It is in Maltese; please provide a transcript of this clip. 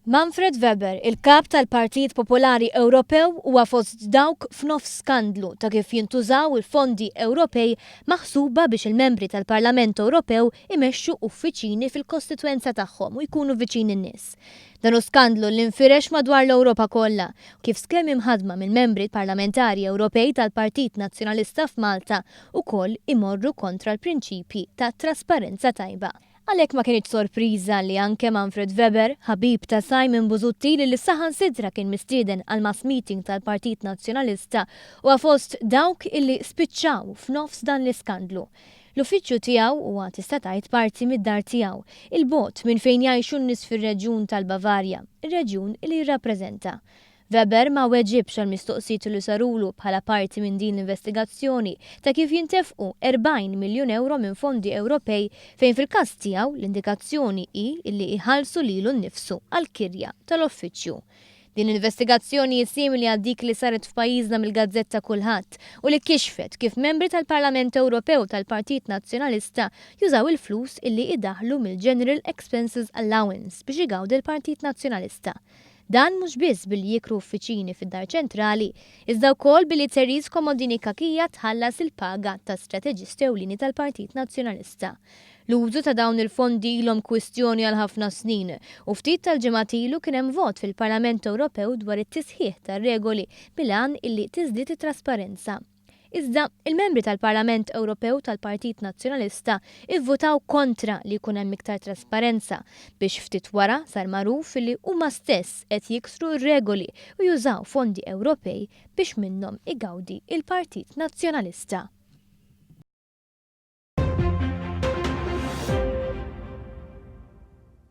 Manfred Weber, il-Kap tal-Partit Popolari Ewropew huwa fost dawk f'nofs skandlu ta' kif jintużaw il-fondi Ewropej maħsuba biex il-Membri tal-Parlament Ewropew imexxu uffiċini fil-kostitwenza tagħhom u jkunu viċin in-nies. Dan hu skandlu li nfirex madwar l-Ewropa kollha kif skemi mħaddma mill-Membri Parlamentari Ewropej tal-Partit Nazzjonalista f'Malta ukoll imorru kontra l-prinċipji ta' trasparenza tajba. Għalhekk ma kinitx sorpriża li anke Manfred Weber, ħabib ta' Simon Busuttil li saħansitra kien mistieden għall-mass meeting tal-Partit Nazzjonalista, huwa fost dawk li spiċċaw f'nofs dan l-iskandlu. L-uffiċċju tiegħu huwa tista' tgħid parti mid-dar tiegħu, 'il bogħod minn fejn jgħixu n-nies fir-reġjun tal-Bavarja, ir-reġjun li jirrappreżenta. Weber ma weġibx għall-mistoqsijiet li sarulu bħala parti minn din l-investigazzjoni ta' kif jintefqu 40 miljun ewro minn fondi Ewropej fejn fil-każ tiegħu l-indikazzjoni hi li jħallsu lilu nnifsu għall-kirja tal-uffiċċju. Din l-investigazzjoni hi simili għal dik li saret f'pajjiżna mill-gazzetta Kulħadd u li kixfet kif membri tal-Parlament Ewropew tal-Partit Nazzjonalista jużaw il-flus li idaħħlu mill-General Expenses Allowance biex igawdi l-Partit Nazzjonalista Dan mhux biss billi jikru uffiċini fid-Dar Ċentrali, iżda wkoll billi Therese Comodini Cachia tħallas il-paga ta' strateġist ewlieni tal-Partit Nazzjonalista. L-użu ta' dawn il-fondi ilhom kwistjoni għal ħafna snin u ftit tal-ġimgħat ilu kien hemm vot fil-Parlament Ewropew dwar it-tisħiħ tar-regoli bil-għan illi tiżdied it-trasparenza. Iżda, il-Membri tal-Parlament Ewropew tal-Partit Nazzjonalista vvutaw kontra li jkun hemm iktar trasparenza, biex ftit wara sar magħruf li huma stess qed jiksru r-regoli u jużaw fondi Ewropej biex minnhom igawdi l-Partit Nazzjonalista.